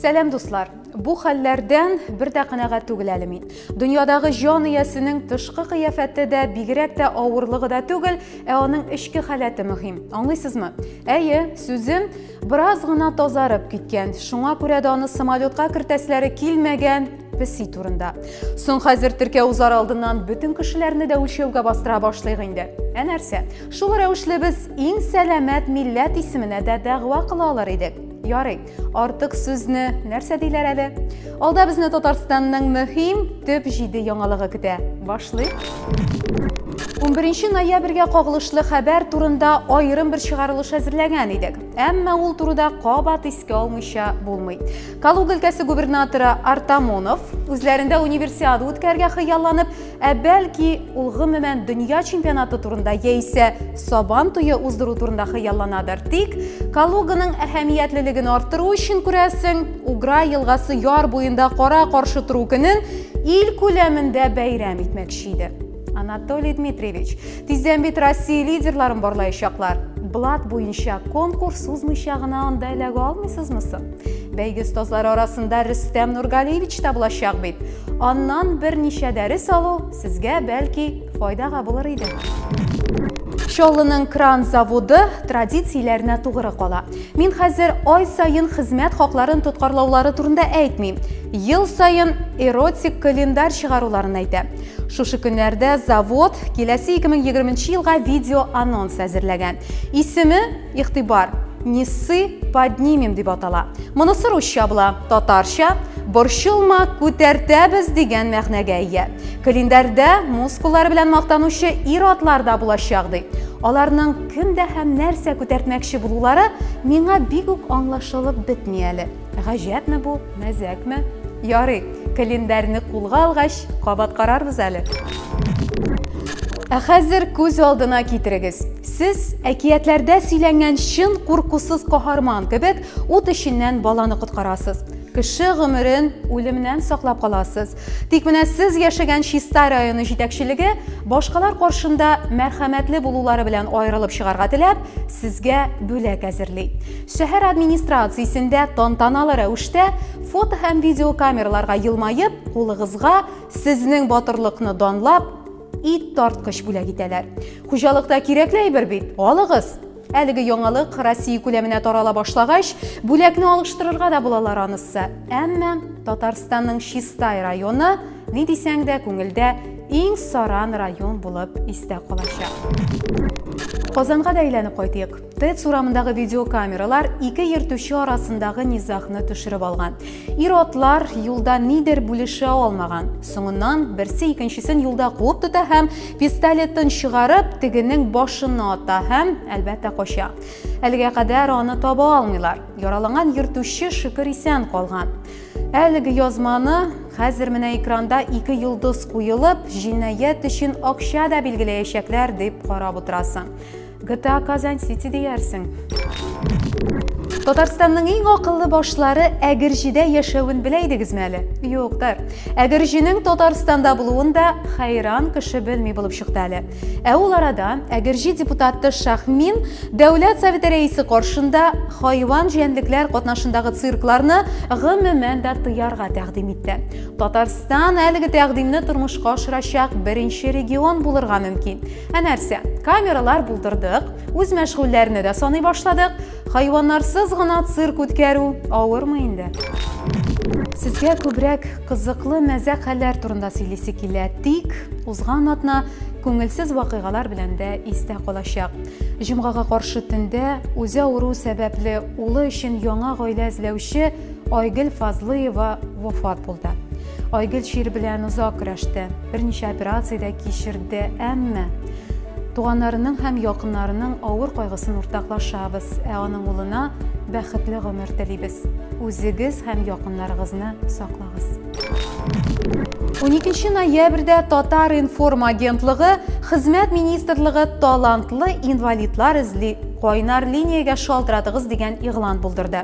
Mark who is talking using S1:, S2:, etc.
S1: Сәлам дуслар! Бу хәлләрдән бер дә канәгать түгел әле мин. Дөньядагы җан иясенең тышкы кыяфәте дә, бигрәк тә авырлыгы да түгел, ә аның эчке халәте мөһим. Аңлыйсызмы? Әйе, сүзем бераз гына тазарып киткән. Шуңа күрә дә аны самолетка кертәсләре килмәгән песи турында. Соң хәзер теркәү узар алдыннан бөтен кешеләрне дә үлчәүгә бастыра башлыйк инде. Ә нәрсә? Шул рәвешле без иң сәламәт милләт исеменә дә дәгъва кыла алар идек. Ярый, артык сүзне нәрсә диләр әле? Алда безне Татарстанның мөһим төп җиде яңалыгы көтә. Башлыйк. 11 ноябрьгә кагылышлы хәбәр турында аерым бер чыгарылыш әзерләгән идек. Әмма ул турыда кабат искә алмыйча булмый. Калуга өлкәсе губернаторы Артамонов үзләрендә универсиада үткәргә хыялланып, Ә бәлки, ул гомумән дөнья чемпионаты турында яисә Сабан туе уздыру турында хыялланадыр. Тик Калуганың әһәмиятлелеген арттыру өчен күрәсең, Угра елгасы яр буенда кара каршы тору көнен ил күләмендә бәйрәм итмәкче иде. Анатолий Дмитриевич, тиздән бит Россия лидерларын барлаячаклар. Блат буенча конкурс узмыйча гына анда эләгә алмыйсызмы соң? Бәйге остазлары арасында Рөстәм Нургалиевич та булачак бит. Аннан берничә дәрес алу сезгә бәлки файдага булыр иде. Чаллының кран заводы традицияләренә тугры кала. Мин хәзер ай саен хезмәт хакларын тоткарлаулары турында әйтмим. Ел саен эротик календарь чыгаруларын әйтә. Шушы көннәрдә завод киләсе 2020 елга видео анонс әзерләгән. Исеме Игътибар, несы поднимем дип атала. Монысы русча була, татарча борчылма, күтәртәбез дигән мәгънәгә ия. Календарьдә мускуллары белән мактанучы ир-атлар да булачак ди. Аларның кемдә һәм нәрсә күтәртмәкче булулары миңа бик үк аңлашылып бетми әле. Гаҗәпме бу, мәзәкме? Ярый, календарьны кулга алгач, кабат карарбыз әле. Ә хәзер күз алдына китерегез. Сез әкиятләрдә сөйләнгән чын куркусыз каһарман кебек ут эченнән баланы коткарасыз. Кеше гомерен үлемнән саклап каласыз. Тик менә сез яшәгән Чистай районы җитәкчелеге башкалар каршында мәрхәмәтле булулары белән аерылып чыгарга теләп, сезгә бүләк әзерли. Шәһәр администрациясендә тантаналы рәвештә фото һәм видеокамераларга елмаеп, кулыгызга сезнең батырлыкны данлап, ит тарткыч бүләк итәләр. Хуҗалыкта кирәкле әйбер бит, алыгыз! Әлеге яңалык Россия күләменә тарала башлагач, бүләкне алыштырырга да булалар анысы. Әмма Татарстанның Чистай районы ни дисәң дә күңелдә иң саран район булып истә калачак. Казанга да әйләнеп кайтыйк. ТЭЦ урамындагы видеокамералар ике йөртүче арасындагы низагны төшереп алган. Ир-атлар юлда нидер бүлешә алмаган. Соңыннан берсе икенчесен юлда куып тота һәм пистолетын чыгарып, тегенең башына ата һәм, әлбәттә, кача. Әлегә кадәр аны таба алмыйлар. Яраланган йөртүче шөкер исән калган. Әлеге язманы хәзер менә экранда ике йолдыз куелып, җинаять өчен акча да билгеләячәкләр дип карап утырасың. GTA Казань Сити диярсең. Татарстанның иң акыллы башлары Әгерҗидә яшәвен белә идегезме әле? Юктыр. Әгерҗинең Татарстанда булуын да хайран кеше белми булып чыкты әле. Ә ул арада Әгерҗи депутаты Шахмин Дәүләт Советы рәисе каршында хайван җәнлекләр катнашындагы циркларны гомумән дә тыярга тәкъдим итте. Татарстан әлеге тәкъдимне тормышка ашырачак беренче регион булырга мөмкин. Ә нәрсә? Камералар булдырдык, үз мәшгульләрне дә саный башладык. Хайваннарсыз гына цирк үткәрү авырмы инде? Сезгә күбрәк кызыклы мәзә хәлләр турында сөйлисе килә, тик узган атна күңелсез вакыйгалар белән дә истә калачак. Җомгага каршы төндә үзе авыру сәбәпле улы өчен яңа гаилә эзләүче Айгөл Фазлыева вафат булды. Айгөл чир белән озак көрәште, берничә операция дә кичерде, әмма туганнарының һәм якыннарының авыр кайгысын уртаклашабыз, ә аның улына бәхетле гомер телибез. Үзегез һәм якыннарыгызны саклагыз. 12 ноябрьдә Татар информ агентлыгы Хезмәт министрлыгы талантлы инвалидлар эзли, кайнар линиягә шалтыратыгыз дигән игълан булдырды.